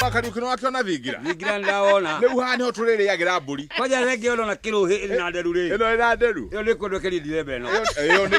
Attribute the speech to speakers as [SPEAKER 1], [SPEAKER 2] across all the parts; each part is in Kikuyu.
[SPEAKER 1] Bakari ukino wake ona thingira. Thingira ndaona. Ni
[SPEAKER 2] uha ni hotu riri
[SPEAKER 1] yagira mburi. Kwaja rege ona na kilo
[SPEAKER 2] he na eh, nderu ri. Ino ina nderu. Yo ni
[SPEAKER 1] kundu kiri December
[SPEAKER 2] no. Yo ni.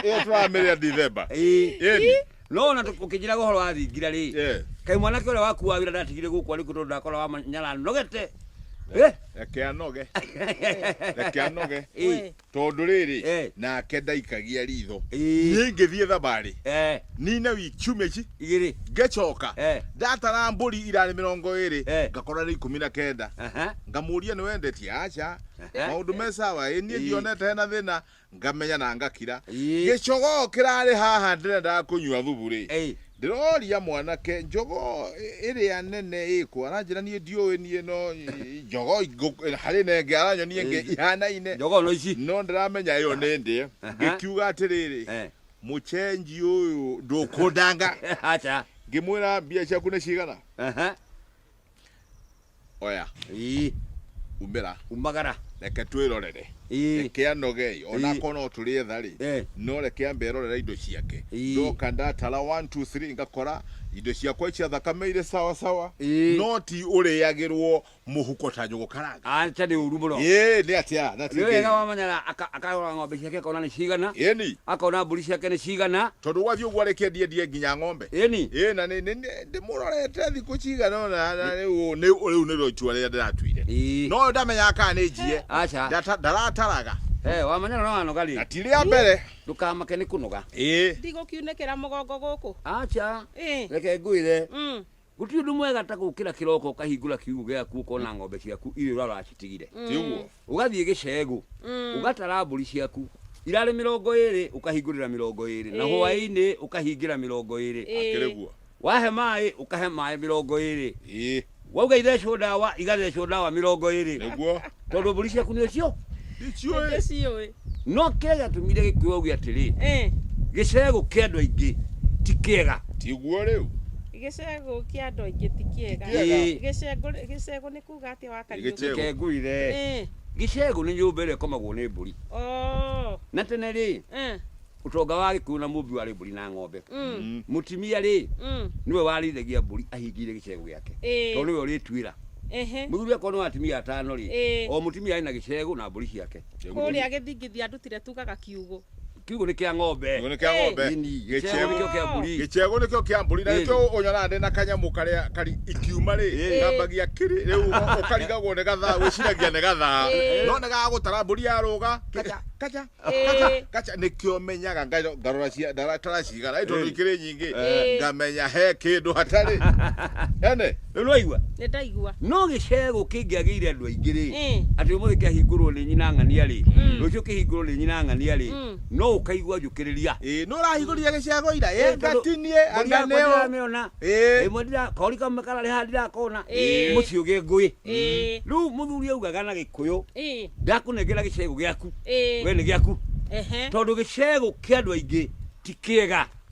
[SPEAKER 1] Yo twamire December. Eh. Eh.
[SPEAKER 2] No ona tukijira gohoro wa thingira ri. Eh. Kai mwana kile waku wa wira ndatigire guku ari kutondo ndakora wa nyala nogete. Eh. Reke
[SPEAKER 1] anoge. Reke anoge. Eh. Tondũ rĩrĩ, Eh. nake ndaikagia riitho. Ĩĩ. Niĩ ingĩthiĩ thabarĩ Eh, nine wiki ciumia ici igĩrĩ. ngĩcoka
[SPEAKER 2] Eh.
[SPEAKER 1] ndatara mbũri irarĩ mĩrongo ĩrĩ Eh. ngakora nĩ ikũmi na kenda Aha. ngamũria nĩ wendetie aca Eh. maũndũ me sawa ĩ niĩ Ĩĩ. ndionete hena thĩna ngamenya na ngakira Ĩĩ. gĩcogoo kĩrarĩ haha ndĩrendaga kũnyua thubu rĩ Ĩĩ. Ndĩroria mwanake njogoo ĩrĩa nene ĩkũ aranjĩra niĩ ndiũĩ niĩ no njogoo ingũ- harĩ na ĩngĩ aranyonia ĩngĩ Ĩngĩ. ihanaine Njogoo no ici. no
[SPEAKER 2] ndĩramenya ĩyo nĩ
[SPEAKER 1] ndĩe Aha. ngĩkiuga atĩrĩrĩ Eh. mũcenji ũyũ ndũkũndanga Acha.
[SPEAKER 2] ngĩmwĩra mbia
[SPEAKER 1] ciaku nĩ cigana Aha. oya ii umĩra umagara reke twĩrorere Ĩĩ. reke anogei Ĩĩ. onako no tũrĩetha rĩ Eh. no reke ambe erorera indo ciake Ĩĩ. ndoka ndatara 1 2 3 ngakora indo ciakwa icia thakame irĩ sawa sawa Ĩĩ. no ti ũrĩagĩrwo mũhuko ta nyũgũ karanga aca nĩ ũru mũno
[SPEAKER 2] ĩĩ nĩ atĩa na nĩ
[SPEAKER 1] wega wamanyara aka-
[SPEAKER 2] akarora ng'ombe ciake akona nĩ cigana ĩni akona mbũri
[SPEAKER 1] ciake nĩ
[SPEAKER 2] cigana tondũ gwathiĩ ũguo arĩkĩendie
[SPEAKER 1] ndie nginya ng'ombe ĩni ĩĩ na nĩ- nĩ- nĩ- ndĩmũrorete thikũ cigana ona na rĩu ũũ nĩ- rĩu nĩrĩo itua rĩrĩa ndĩratuire Ii. no ndamenyaga kana nĩ njie Aca. ndata- ndarataraga Eh, wamanya no
[SPEAKER 2] wanoga rĩ. na ti rĩa mbere
[SPEAKER 1] Ndũkamake nĩ kũnoga.
[SPEAKER 2] ĩĩ ndigũkiunĩkĩra
[SPEAKER 3] mũgongo gũkũ Aca. Ĩ.
[SPEAKER 2] Reke ngwĩre. Mm, Gũtirĩ ũndũ mwega ta gũkĩra kĩroko ũkahingũra kiugũ gĩaku ũkona ng'ombe ciaku irĩ ũrara wacitigire. tiguo ũgathiĩ
[SPEAKER 1] gĩcegũ
[SPEAKER 2] Mm. ũgatara mbũri ciaku irarĩ mĩrongo ĩrĩ ũkahingũrĩra mĩrongo ĩrĩ na Ĩĩ. hwaĩ-inĩ ũkahingĩra mĩrongo ĩrĩ Ĩĩ. akĩrĩgua
[SPEAKER 1] wahe maĩ
[SPEAKER 2] ũkahe maĩ mĩrongo ĩrĩ ĩĩ wauga ithecwo ndawa igathecwo ndawa mĩrongo ĩrĩ nĩguo tondũ mbũri
[SPEAKER 1] ciaku nĩ
[SPEAKER 2] ũcio ndiciũĩ Ndĩciũĩ.
[SPEAKER 3] no kĩrĩa
[SPEAKER 2] gĩatũmire gĩkũyũ auge atĩrĩ Eh, gĩcegũ kĩa andũ aingĩ ti kĩega tiguo rĩu gĩcegũ kĩa
[SPEAKER 1] andũ
[SPEAKER 3] aingĩ ti kĩega Kĩega. Ĩĩ. Gĩcegũ- gĩcegũ nĩ Uga atia wa Kariũki? Gĩchegũ. Kengũire. Eh.
[SPEAKER 2] Gĩcegũ nĩ nyũmba ĩrĩa ĩkomagwo nĩ mbũri. Oh. Na tene rĩ, Eh. ũtonga wa Gĩkũyũ na Mũmbi warĩ mbũri na ng'ombe. Mm. Mũtimia rĩ, Mm. nĩwe warĩithagia mbũri ahingĩire gĩcegũ gĩake. Ĩĩ. Tondũ nĩwe ũrĩtuĩra. Ehe. Mũthuri akorwo nĩ atumia atano rĩ, Ĩĩ. o mũtumia arĩ na gĩcegũ na mbũri ciake. Kũrĩa gĩthingithia
[SPEAKER 3] ndutire tugaga kiugũ. kiugũ nĩ kĩa ng'ombe
[SPEAKER 2] kiugũ nĩ kĩa ng'ombe gĩcegũ
[SPEAKER 1] nĩkĩo kĩa mbũri
[SPEAKER 2] gĩcegũ nĩkĩo kĩa mbũri
[SPEAKER 1] na nĩkĩo ũnyonaga ndĩ na kanyamũ karĩa kari ikiuma rĩ kambagia kiri rĩu ũkarigagwo nĩ gathaa wĩciragia nĩ gathaa no nĩ gagagũtara mbũri ya rũga kaja kaja kaja kaja nĩkĩo menyaga ngarora ndatara cigana tondũ ikĩrĩ nyingĩ ngamenya he kĩndũ hatarĩ ene rĩu nĩwaigua nĩ
[SPEAKER 2] ndaigua no
[SPEAKER 3] gĩcegũ
[SPEAKER 2] kĩngĩagĩire andũ aingĩ-rĩ Ĩ. atĩ ũmũthĩ kĩahingũrwo nĩ nyina ng'ania rĩ Mm. rũciũ kĩhingũrwo nĩ nyina ng'ania rĩ Mm. no ũkaigua njũkĩrĩria ĩĩ nũ ũrahingũrire
[SPEAKER 1] gĩcegũ ira Ĩĩ, ĩĩ tondũ ngatinie mbũri anga yakwa nĩ ũ ndiramĩona ĩĩ
[SPEAKER 2] ĩmwe ndira kori kamwe kararĩ haha ndirakona Ĩĩ. mũciĩ ũgĩ ngũĩ ĩĩ rĩu mũthuri augaga na gĩkũyũ ĩĩ ndakũnengera gĩcegũ gĩaku we ĩĩ nĩ gĩaku ehe tondũ gĩcegũ kĩa andũ aingĩ ti kĩega